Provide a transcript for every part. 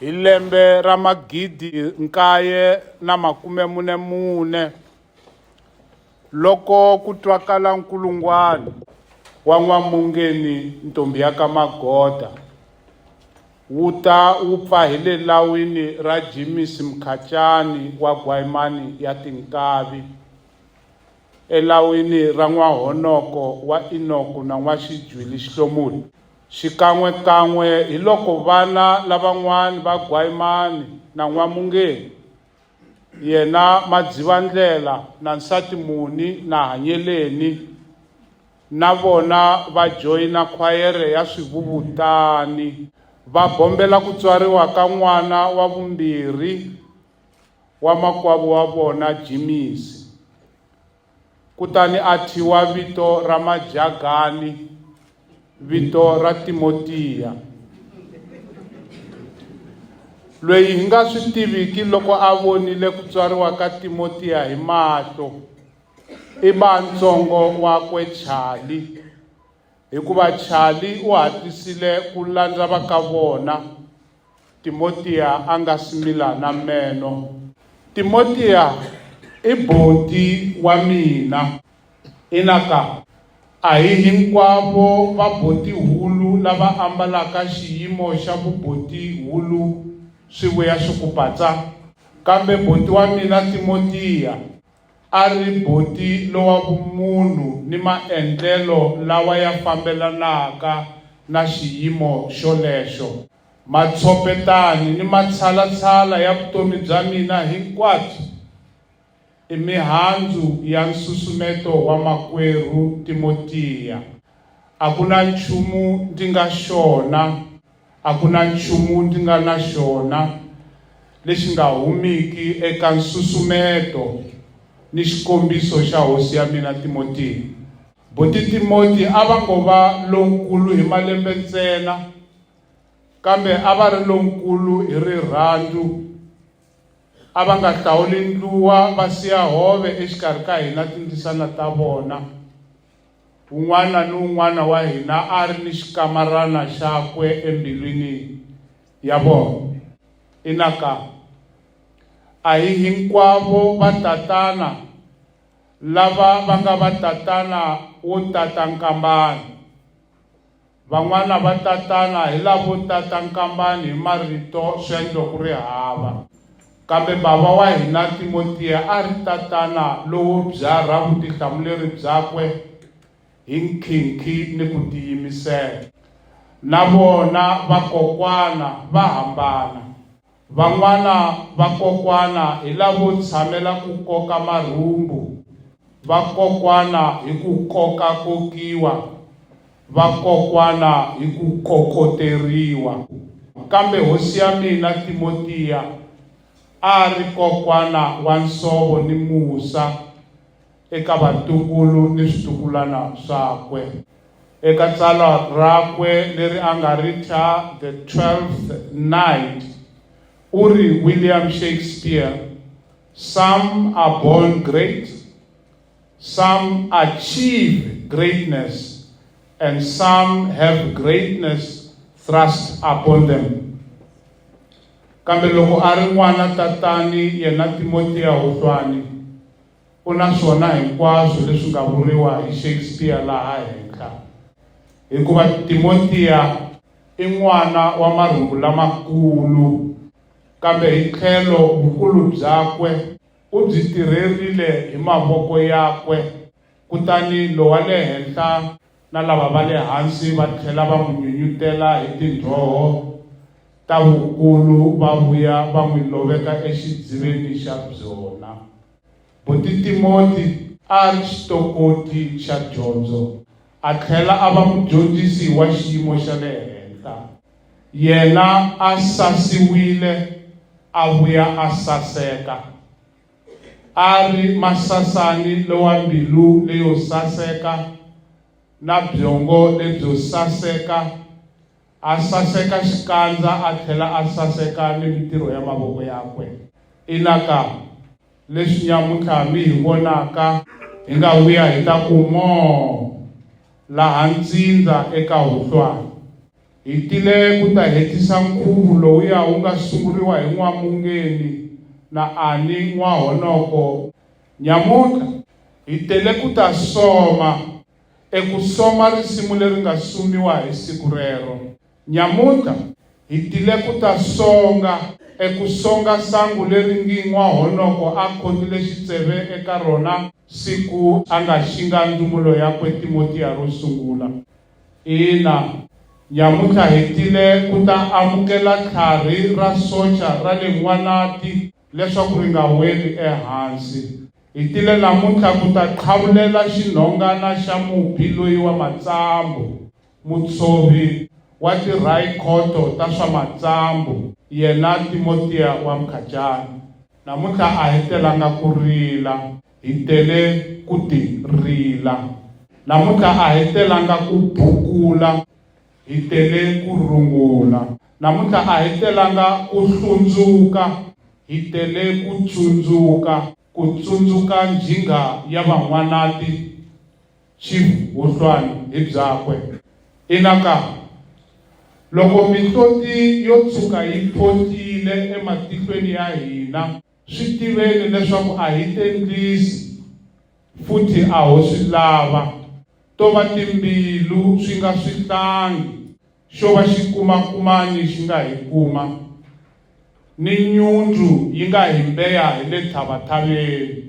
Hi lembe ra magidi nkaye na makume mune mune, loko ku twakala nkulungwani wa N'wamungeni ntombhi ya ka Magoda wu ta wu pfa hi le lawini ra Jimisi Mkhatyani wa Gwayimani ya Tinkavi, elawini ra n'wahonoko wa Inoku na n'waxijwi lixihlomulo, xikan'we-kan'we hiloko vana lavan'wana va Gwayimani na N'wamungeni, yena Madzivandlela na nsati Muni na Hanyeleni, na vona va joyina khwayere ya swivuvutani, va bombela ku tswariwa ka n'wana wa vumbirhi wa makwavo wa vona Jimisi, kutani a thyiwa vito ra Majagani, vito ra Timotiya, loyi hi nga swi tiviki loko a vonile ku tswariwa ka Timotiya hi mahlo i ba ntsongo wakwe Chali. Hikuva Charlie u hatlisile ku landza va ka vona, Timotiya a nga si mila na meno. Timotiya i buti wa mina. Ina ka. A hi hinkwavo vaboti-hulu lava ambalaka xiyimo xa vuboti-hulu swi vuya swi ku patsa. Kambe buti wa mina Timotiya A ri boti lowa vumunhu ni maendlelo lawa ya fambelanaka na xiyimo xolexo. Matshopetani ni matshalatshala ya vutomi bya mina hinkwabyo i mihandzu ya nsusumeto wa Makwerhu Timotiya. A ku na nchumu ndzi nga xona. A ku na nchumu ndi nga na xona lexi nga humiki eka nsusumeto ni xikombiso xa hosi ya mina Timotiya. Buti Timoti a va ngo va lonkulu hi malembe ntsena, kambe a va ri lonkulu hi rirhandzu. A va nga hlawuli ndluwa va siya hove exikarhi ka hina tindzisana ta vona. Un'wana ni un'wana wa hina a ri ni xikamarana xakwe embilwini ya vona. Ina ka. A hi hinkwavo vatatana lava va nga vatatana wo tata nkambana. Van'wana va tatana hi lavo tata nkambani hi marito swendlo ku ri hava. Kambe bava wa hina Timotiya a ri tatana lowo byarha vutihlamuleri byakwe hi nkhinkhi ni ku tiyimisela. Na vona vakokwana va hambana. Van'wana vakokwana hi lavo tshamela ku koka marhumbu, va kokwana hi ku koka-kokiwa, va kokwana hi ku kokoteriwa. Kambe hosi ya mina Timotiya a a ri kokwana wa nsovo ni musa. eka vatukulu ni switukulwana swakwe. Eka tsalwa rakwe leri a nga ri thya The Twelfth Night, u ri, William Shakespeare, Some are born great, some achieve greatness, and some have greatness thrust upon them. Kambe loko a ri n'wana tatani yena Timotiya Huhlwani, u na swona hinkwaswo leswi nga vuriwa hi Shakespeare laha henhla, hikuva Timotiya i n'wana wa marhumbu lamakulu, kambe hi tlhelo vukulu byakwe u byi tirherile hi mavoko yakwe, kutani Lowa le Henhla na lava va le hansi va tlhela va n'wi nyunyutela hi tindhoho ta vukulu va vuya va n'wi loveka exidziveni xa byona. Buti Timoti a a ri xitokoti xa dyondzo a tlhela a va mudyondzisi wa xiyimo xa le henhla. Yena a sasiwile a vuya a saseka. A ri masasani lowa mbilu leyo saseka na byongo lebyo saseka, a saseka xikandza a tlhela a saseka ni mintirho ya mavoko yakwe. Ina ka! Leswi nyamuntlha mi hi vonaka, hi nga vuya hi ta ku moo laha ntsindza eka huhlwana. Hi tile ku ta hetisa nkhuvu lowuya wu nga sunguriwa hi N'wamungeni na Ani N'wahonoko. Nyamutlha hi tele ku ta soma eku soma risimu leri nga sumiwa hi siku rero. Nyamutlha hi tile ku ta songa eku songa sangu leri ngi N'wahonoko a khotile xitseve eka rona siku a nga xinga ndzumulo yakwe Timotiya ro sungula. Ina, nyamuntlha hi tile ku ta amukela tlharhi ra socha ra le N'wanati leswaku ri nga weli ehansi. Hi tile namuntlha ku ta qhavulela xinhongana xa mubyi loyi wa matsambu, mutshovi wa tirhayikhoto ta swa matsambu, yena Timotiya wa Mkhacani. Namuntlha a hi telanga ku rila. Hi tele ku ti rila. Namuntlha a hi telanga ku bukula. Hi tele ku rungula. Namuntlha a hi telanga ku hlundzuka. Hi tele ku tsundzuka. Ku tsundzuka njhinga ya Van'wanati, Chief Huhlwani hi byakwe. Ina ka! Loko mihloti yo tshuka yi photile ematihlweni ya hina, swi tiveni leswaku a hi tendlisi futhi a ho swi lava to va timbilu swi nga swi hlangi xo va xi kumakumani xi nga hi kuma ni nyundzu yi nga hi mbeya hi le tshavatshaveni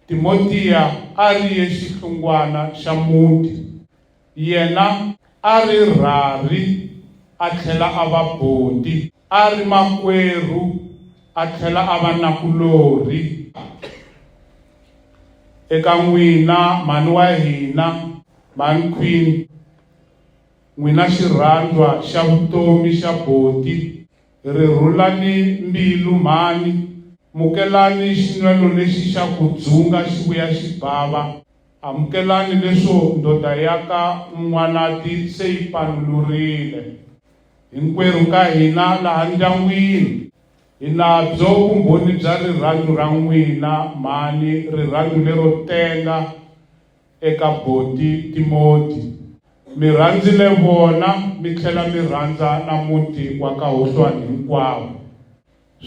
timotiya a ri ye xihlungwana xa muti Yena a ri rharhi a tlhela a va buti, a ri makwerhu a tlhela a va nakulorhi eka n'wina, mhani wa hina, Mhani Queen, n'wina xirhandzwa xa vutomi xa buti. Rhurhulani mbilu, mhani. Mukelani xinwelo lexi xa ku dzunga xi vuya xi bava. Amukelani leswo ndoda ya ka N'wanati se yi panulurile. Hinkwerhu ka hina laha ndyangwini hi na byo vumbhoni bya rirhandzu ra n'wina, mhani, rirhandzu lero tenga eka buti Timoti. Mi rhandzile vona mi tlhela mi rhandza na muti wa ka Hohlwani hinkwawo.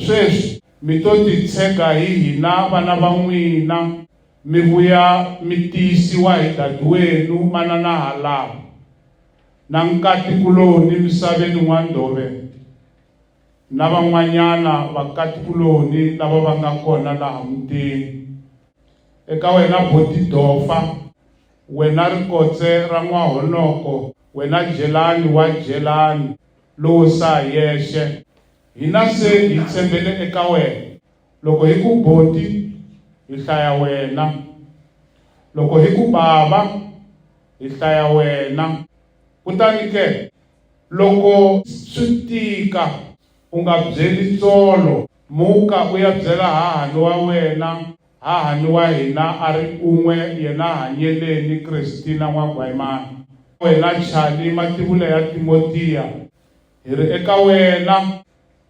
Sweswi mi to titshega hi hina vana va n'wina, mi vuya mi tiyisiwa hi dadiwenu manana halava, na nkati-kuloni misaveni N'wandove, na van'wanyana vakati-kuloni lava va nga kona laha mutini. Eka wena Botidofa, wena rikotse ra N'wahonoko, wena Jelani wa Jelani, lowo saa yexe, Hina se hi tshembele eka wena. Loko hi ku boti, hi hlaya wena. Loko hi ku bava, hi hlaya wena. Kutani ke, loko swi tika, u nga byeli tsolo. Muka u ya byela hahani wa wena, hahani wa hina a ri un'we yena hanyeleni, Kristina N'wagwayimani. Wena Charlie, mativula ya Timotiya. Hi ri eka wena.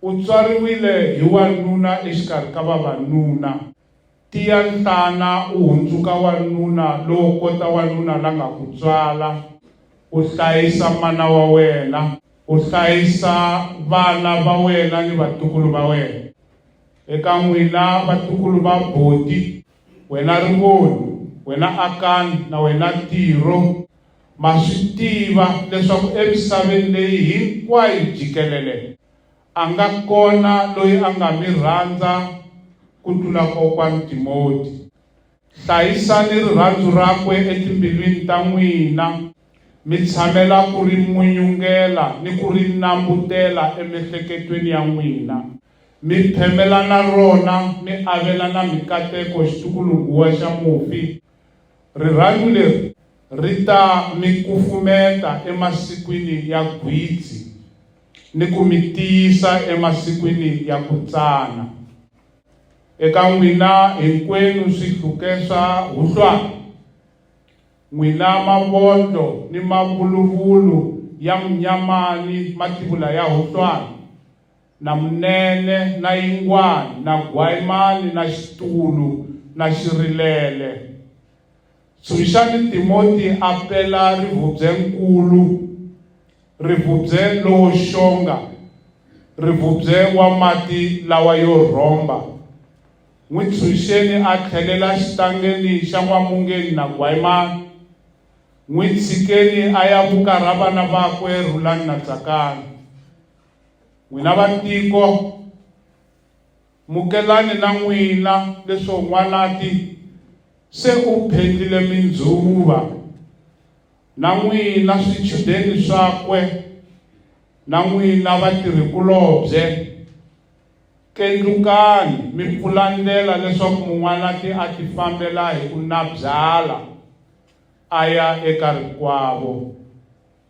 U tswariwile hi wanuna exikarhi ka vavanuna. Tiya nhlana u hundzuka wanuna lowo kota wanuna la nga ku tswala. U hlayisa mana wa wena. U hlayisa vana va wena ni vatukulu va wena. Eka n'wina vatukulu va buti, wena Rimoni, wena Akani na wena Tiro, ma swi tiva leswaku emisaveni leyi hinkwayo jikelele a nga kona loyi a nga mi rhandza ku tlula Kokwani Timoti. Hlayisani rirhandzu rakwe etimbilwini ta n'wina, mi tshamela ku ri munyungela ni ku ri nambutela emiehleketweni ya n'wina. Mi phemela na rona, mi avelana mikateko, xitukulunguwa xa mufi. Rirhandzu leri ri ta mi kufumeta emasikwini ya gwitsi ni ku mi tiyisa emasikwini ya ku tsana. Eka n'wina hinkwenu swihluke swa huhlwana, n'wina mavondlo ni mavuluvulu ya munyama ni mativula ya huhlwana, na munene na yingwani na gwayimani na xitulu na xirilele. Tshunxani Timoti a pela rivhubye-nkulu, rivhubye lowo xonga, rivhubye wa mati lawa yo rhomba. N'wi tshunxeni a tlhelela xitangeni xa n'wamungeni na gwayimani. N'wi tshikeni a ya vukarha vana vakwe Rhulani na Tsakani. N'wina vatiko, mukelani na n'wina leswo n'wanati se u phendlile mindzuva, na n'wina swichudeni swakwe, na n'wina vatirhikulobye, kendlukani mi pfula ndlela leswaku mun'wanati a tifambela hi ku nabyala a ya eka rikwavo.